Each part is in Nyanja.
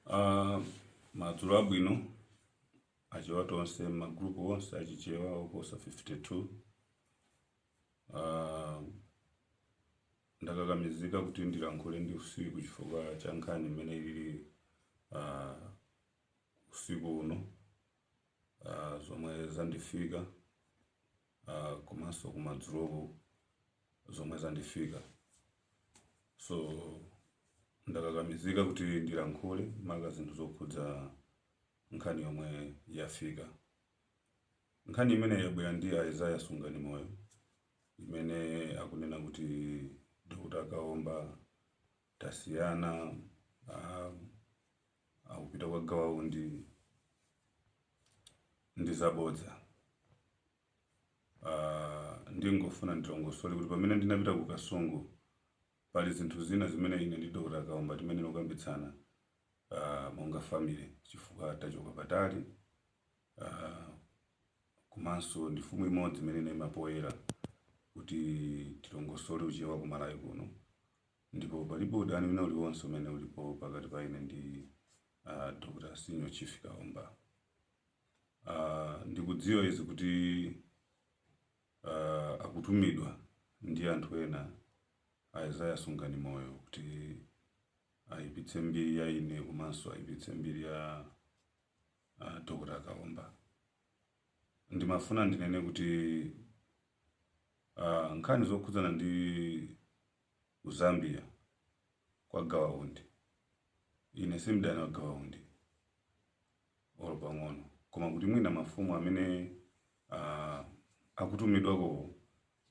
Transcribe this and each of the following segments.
Uh, madzulo abwino achewa tonse magrupu onse achichewa oposa 52 uh, ah, ndakakamizika kuti ndilankhule ndi usiku chifukwa cha nkhani imene ili uh, usiku uno uh, zomwe zandifika uh, komanso kumadzuloku zomwe zandifika so ndakakamizika kuti ndilankhule maka zinthu zokhudza nkhani yomwe yafika nkhani imene yabwera ndi Isaiah Sungani Moyo imene akunena kuti Dr. Kaomba tasiyana uh, akupita kwa Gawa Undi ndi zabodza. Ah, ndingofuna ndilongosole kuti pamene ndinapita ku Kasungu pali zinthu zina zimene ine ndi Dr. Kaomba timene tikukambitsana ah, monga family chifukwa tachoka patali ah, komanso ndi mfumu imodzi imene inaima poyera kuti tilongosole uchewa ku Malawi kuno Ndipo palibe udani wina uliwonse umene ulipo pakati pa ine ndi a Dr. Senior Chief Kaomba. Ah, ndikudziwa izi kuti ah, akutumidwa ndi anthu ena a Isaiah Sunganimoyo kuti ayipitse mbiri ya ine komanso ayipitse mbiri ya a Dr. Kaomba. Ndimafuna ndinene kuti ah, nkhani zokhudzana ndi ku Zambia kwa Gawa Undi. Ine si mdani wa Gawa Undi olo pang'ono, koma kuti mwina mafumu amene uh, akutumidwakowo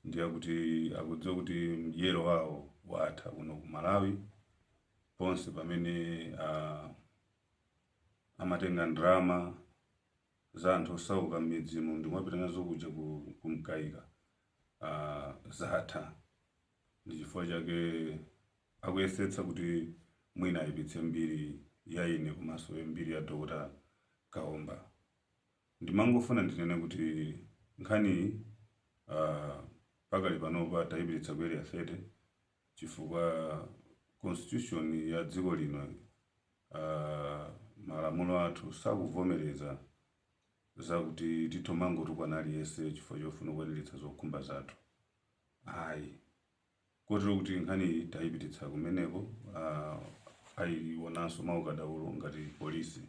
ndiye akudziwa kuti mdyero wawo watha kuno ku Malawi ponse pamene uh, amatenga ndalama za anthu osauka m'midzimu ndi kumapita nazo kuja ku Mkaika uh, zatha ndi chifukwa chake akuyesetsa kuti mwina ayipitse mbiri ya ine komanso mbiri ya Dr. Kaomba ndimangofuna ndinene kuti nkhaniyi uh, pakali panopa tayipititsa ku Area 30 chifukwa constitution ya dziko lino uh, malamulo athu sakuvomereza Zakuti titha kumangotukwana aliyense chifukwa chofuna kukwaniritsa zokhumba zathu ayi. Kotero kuti nkhaniyi tayipititsa kumeneko ayionanso mwaukadaulo ngati polisi.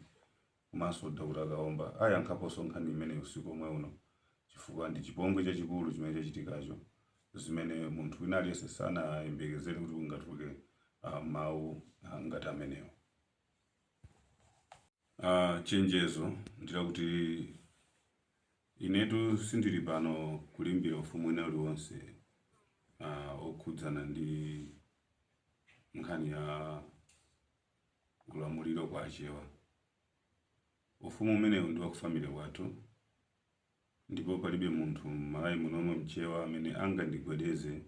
Komanso Dr Kaomba ayankhaponso nkhani imeneyi usiku omwe uno chifukwa ndi chipongwe chachikulu chimene chachitikacho zimene munthu wina aliyense sanayembekezere kuti kungatuluke mawu ngati amenewo. Uh, chenjezo ndilakuti inetu sindili pano kulimbira ufumu wina uliwonse uh, okhudzana ndi nkhani ya ulamuliro kwa achewa ufumu umenewu ndi wakufamily kwathu ndipo palibe munthu m'Malawi muno mchewa amene angandigwedeze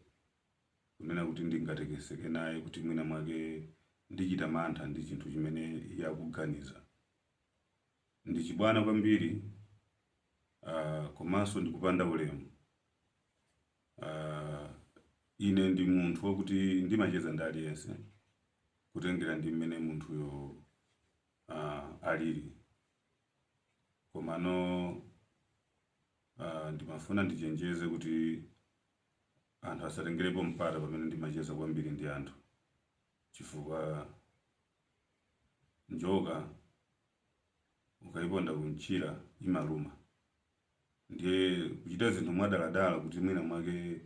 kunena kuti ndingatekeseke naye kuti mwina mwake ndichita mantha ndi chinthu chimene iye akuganiza. Ndi chibwana kwambiri uh, komanso ndikupanda ulemu. Uh, ine ndi munthu wakuti ndimacheza ndi aliyense kutengera ndi mmene munthuyo uh, alili komano uh, ndimafuna ndichenjeze kuti Anthu asatengerepo mpata pamene ndimacheza kwambiri ndi anthu chifukwa njoka ukaiponda kumchira imaluma. Ndiye kuchita zinthu mwadaladala kuti mwina mwake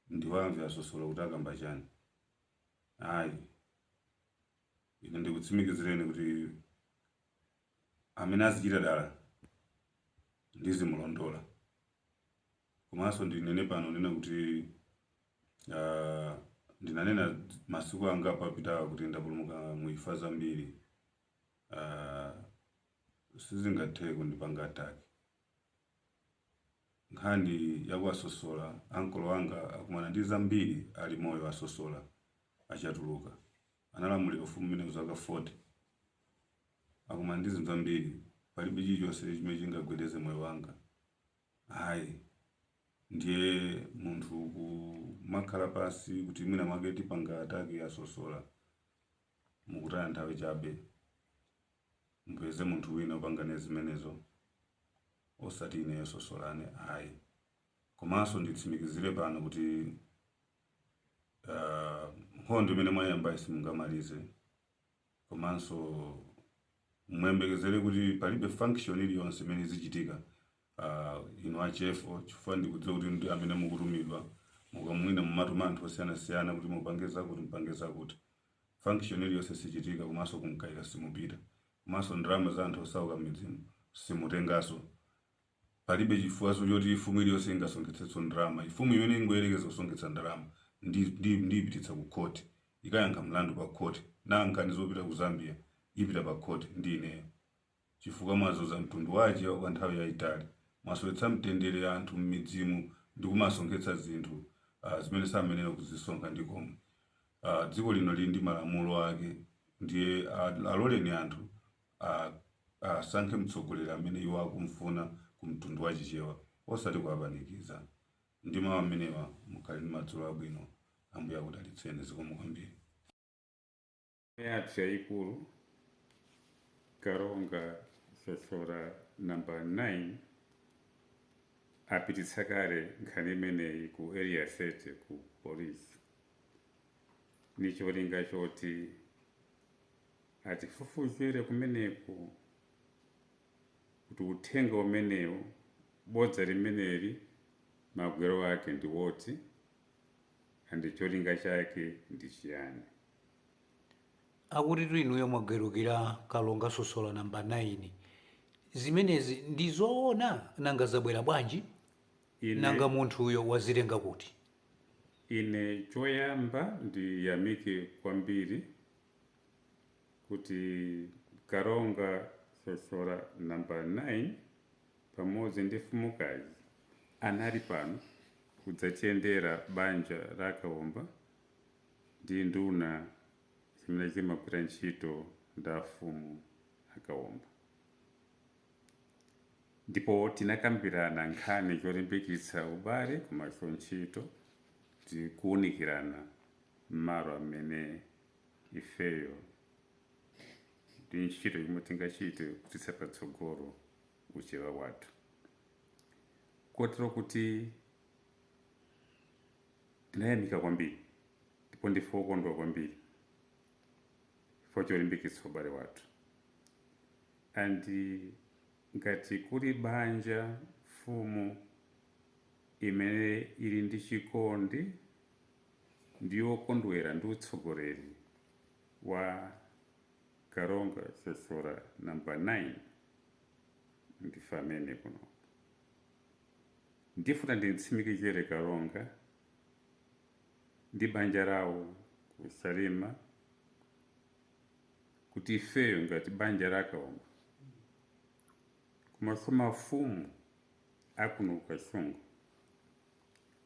ndiwamve a Sosola kuti akamba chani, ayi. Ine ndikutsimikizireni kuti amene azichita dala ndizimulondola. Komanso ndinene pano kunena kuti uh, ndinanena masiku angapo apitawa kuti ndapulumuka mu imfa zambiri uh, sizingathe kundipanga attack nkhani ya kwa Sosola a uncle anga akumana ndi zambiri ali moyo a Sosola a Chatuluka analamulira ufumu umenewu zaka 40 akumana ndi zinthu zambiri palibe chilichonse chimene chingagwedeze moyo wanga Ayi. Ndiye munthu kumakhala pansi kuti mwina mwake tipanga attack a Sosola, mukutaya nthawi chabe. Mupeze munthu wina opanga naye zimenezo osati ineyo Sosola ayi. Komanso nditsimikizire pano kuti uh nkhondo imene mwaiyambayi simungamalize. komanso muyembekezere kuti palibe function iliyonse imene izichitika uh, inu a chefo chifukwa ndikudziwa kuti ndi amene mukutumidwa mwinamwake mumatuma anthu osiyanasiyana kuti mupange zakuti mupange zakuti function iliyonse sichitika komanso ku Mkaika simupita komanso ndalama za anthu osauka m'midzimu simutenganso Palibe chifukwaso choti fumu iliyose ingasonkhetsetso ndalama. Fumu imene ingoyerekeza kusonkhetsa ndalama ndi ndi ndiyipititsa ku court ikayankha mlandu pa court. Nkhani zopita ku Zambia ipita pa court ndi ineyo. Chifukwa mwazuza mtundu wa achewa kwa nthawi yaitali. Mwasowetsa mtendere anthu mmidzimu ndi kumasonkhetsa zinthu uh zimene samayenera kuzisonkha ndi komwe. Uh dziko lino lili ndi malamulo ake ndiye uh aloleni anthu asankhe mtsogoleri amene iwo akumfuna ku mtundu wa chichewa osati kuwapanikiza ndi mawu amenewa mukhale ndi madzulo abwino ambuye akudalitseni zikomo kwambiri yathu yayikulu kalonga sosola namba 9 apititsa kale nkhani imeneyi ku area 30 ku polisi ni cholinga choti Atifufuzire kumeneko kuti uthenga umenewu, bodza limeneli magwero ake ndi woti and cholinga chake ndi chiyani. Akutitu inuyo mwagalukira Kalonga Sosola number 9. Zimenezi ndi zoona? Nanga zabwera bwanji? Nanga munthuyo wazitenga kuti? ine choyamba ndiyamike kwambiri kuti Kalonga Sosola namba 9 pamodzi ndi mfumukazi anali pano kudzatiyendera banja la Kaomba ndi nduna zimene zimagwira ntchito ndi afumu a Kaomba. Ndipo tinakambirana nkhani zolimbikitsa ubale komanso ntchito ndi kuunikirana m'malo amene ifeyo ndi ntchito yomwe tingachite kupititsa patsogolo uchewa wathu kotero kuti tinayamika kwambiri ndipo ndife okondwa kwambiri chifukwa cholimbikitsa ubale wathu and ngati kuli banja mfumu imene ili ndi chikondi ndi wokondwera ndi utsogoleri wa Kalonga Sosola number 9 ndife amene kuno ndifuna nditsimikizire Kalonga ndi banja lawo ku Salima kuti ifeyo ngati banja la Kaomba komanso mafumu akuno ku Kasungu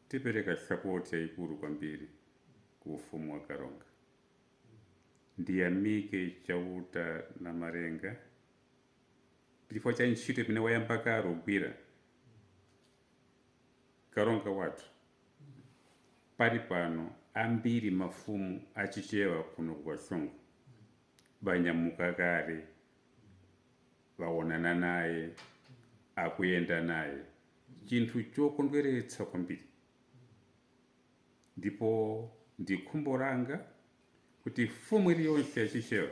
Tipereka support yaikulu kwambiri ku ufumu wa Kalonga. Ndiyamike Chauta Namalenga chifukwa cha ntchito imene wayamba kale kugwira. Kalonga wathu pali pano ambiri mafumu a Chichewa kuno ku Kasungu banyamuka kale, baonana naye, akuyenda naye. chinthu chokondweretsa kwambiri, ndipo ndi khumbo langa kuti mfumu iliyonse ya Chichewa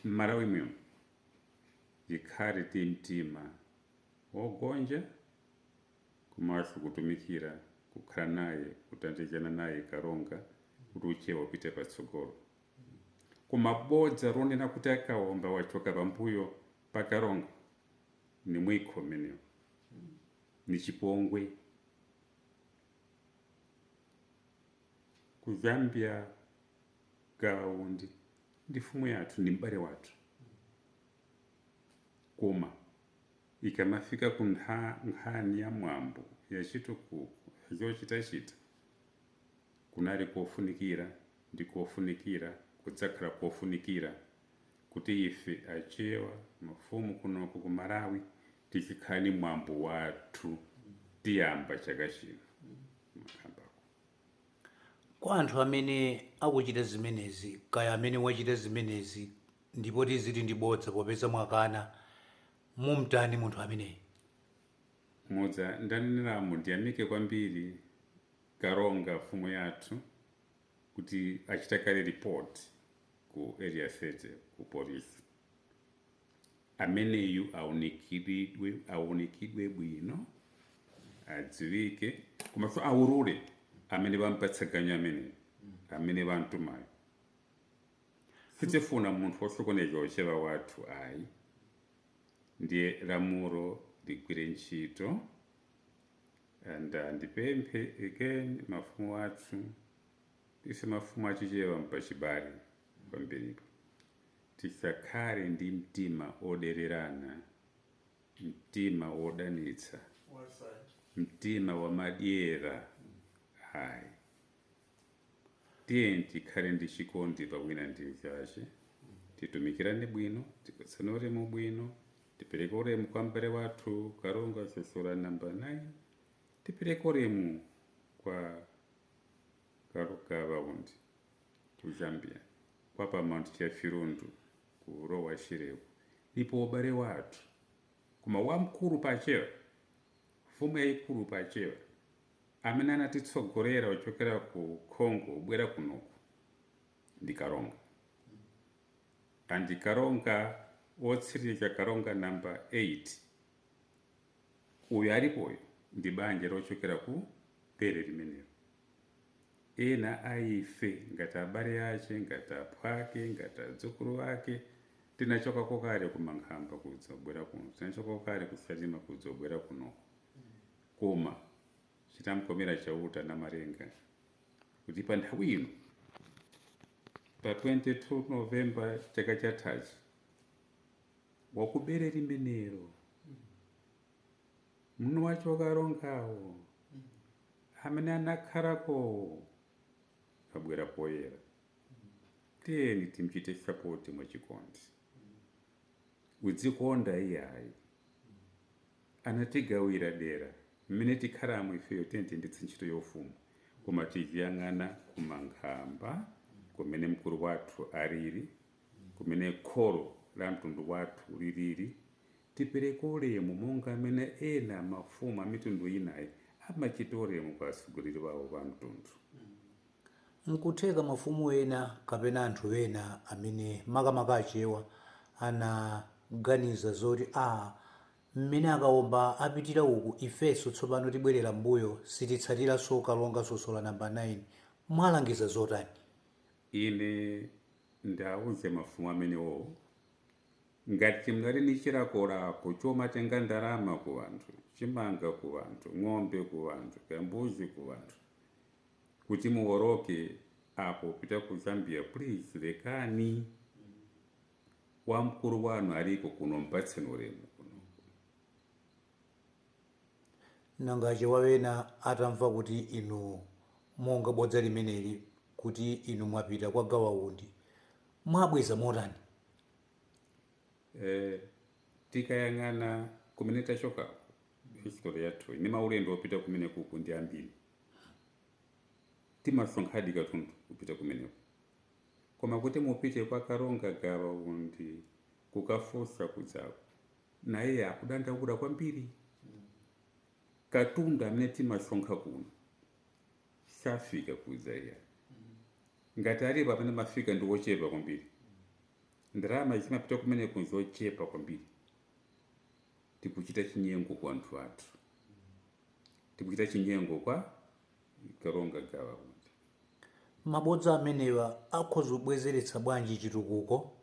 m'Malawi muno ikhale ndi mtima wogonja komanso kutumikira, kukhala naye, kuthandizana naye Kalonga kuti Uchewa upite patsogolo. Koma bodza lonena kuti a Kaomba wachoka pambuyo pa Kalonga, Ni mwikho umenewo. Ni chipongwe. Ku Zambia, Gawa Undi ndi mfumu yathu, ndi m'bale wathu. Koma ikamafika ku nkhani ya mwambo, ya chitukuko, ya zochitachita, kunali kofunikira, ndi kofunikira, kudzakhala kofunikira. kuti ife achewa mafumu kunoko ku malawi tizikhala ndi mwambo wathu tiyamba chaka chino. Kwa anthu amene akuchita zimenezi kaya amene wachita zimenezi ndipo tiziti ndi bodza popeza mwakana mumtani munthu ameneyi? Monga ndaneneramu ndiyamike kwambiri kalonga mfumu yathu kuti achita kale report ku area 30 ku police ameneyu aunikiridwe aunikidwe bwino adziwike komanso aulule amene wampatsa ganyu amene amene wamtumayo sitifuna munthu wosokoneza uchewa wathu ayi ndiye lamulo ligwire ntchito and uh, ndipemphe again mafumu athu Ife mafumu a Chichewa mpachibale kwambiripo. Tisakhale ndi mtima odererana, mtima wodanitsa, mtima wamadyera ayi. Tiyeni tikhale ndi chikondi pa wina ndi mnzache, titumikirane bwino, tipatsane ulemu bwino, tipereke ulemu kwa mbale wathu Kalonga Sosola number 9, tipereke ulemu kwa karonga gawa undi ku zambia kwa paramount chief lundu ku lower shireko ndipo ubale wathu koma wamkulu pachewa mfumu yayikulu pachewa amene anatitsogolera ochokera ku congo ubwera kunoku ndi karonga andi karonga wotsiriza karonga namba 8 Uyu alipoyu ndi banja lochokera ku bere limenelo. Ena a ife, ngati abale ace, ngati aphwake, ngati adzukulu ake, tinachokako kale ku Mankhamba kudzabwera kuno, tinachokako kale ku Salima kudzabwera kunoko. Koma chitamkomera Chauta Namalenga kuti pa nthawi ino, pa 22 November chaka chathachi, wa ku bere limenelo mwini wace wakarongawo amene anakhalakowo abwera poyera tiyeni timchite sapoti mwachikondi udzikonda iyayi anatigawira dera mmene tikhalamo ifeyo tiyeni tiyendetse ntchito yaufumu koma tiziyang'ana kumankhamba kumene mkulu wathu alili kumene kholo la mtundu wathu lilili, tipereke ulemu monga amene ena mafumu a mitundu inayi amachita ulemu kwa atsogoleri wawo pa mtundu. Nkutheka mafumu ena kapena anthu ena amene makamaka Achewa anaganiza zoti aah, mmene a Kaomba apitira uku ifenso tsopano tibwerera mmbuyo sititsatiranso Kalonga Sosola Number 9. Mwalangiza zotani? Ine ndauze mafumu amenewo ngati mnali ni chilakolako chomatenga ndalama ku wanthu, chimanga ku wanthu, ng'ombe ku wanthu, kaya mbuzi ku wanthu, kuti muwoloke apo kupita ku Zambia please lekani. Wamkulu wanu aliko kuno mpatseni ulemu kuno. Nanga achewawa ena atamva kuti inu monga bodza limeneli kuti inu mwapita kwa gawa undi mwabweza motani? E, tikayang'ana kumene tachokako history yathuyi ndi maulendo opita kumenekuku ndi ambiri timasonkhadi katundu kupita kumeneko koma kuti mupite kwa karonga gawa undi kukafunsa kudzaku naye akudandaula kwambiri katundu amene timasonkha kuno safika kudzaiya ngati alipo amene amafika ndi wochepa kwambiri ndalama zimapita kumeneko nzochepa kwambiri tikuchita chinyengo kwa anthu athu tikuchita chinyengo kwa Kalonga Gawa Undi mabodza amenewa akhoza kubwezeretsa bwanji chitukuko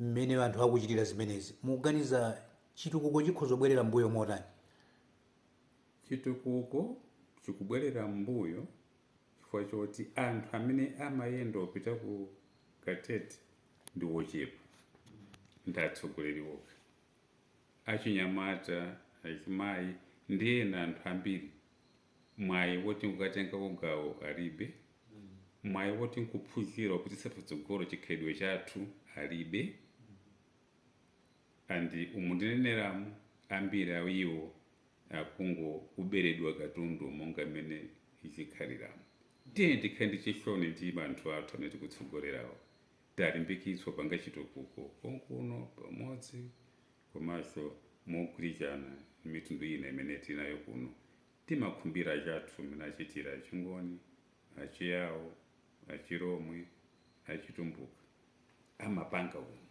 mmene anthu akuchitira zimenezi, mukuganiza chitukuko chikhoza kubwerera m'mbuyo motani? Chitukuko chikubwerera m'mbuyo chifukwa choti anthu amene amayenda opita ku Katete ndi ochepa, ndi atsogoleri okha. achinyamata, azimayi ndi ena anthu ambiri mwayi woti nkukatengako gawo alibe, mwayi woti nkuphunzira kupititsa patsogolo chikhalidwe chathu alibe and umu ndineneramu ambiri a iwo akungoberedwa katundu monga mmene zikhaliramu. Tiyeni tikhale ndi chisoni ndi anthu athu amene tikutsogolerawo. talimbikitswa kupanga chitukuko konkuno pamodzi komanso mogwirizana ndi mitundu ina imene tili nayo kuno. Timakhumbira anzathu mmene achitira Achingoni, Achiyawo, Achilomwe, Achitumbuka amapanga kuno.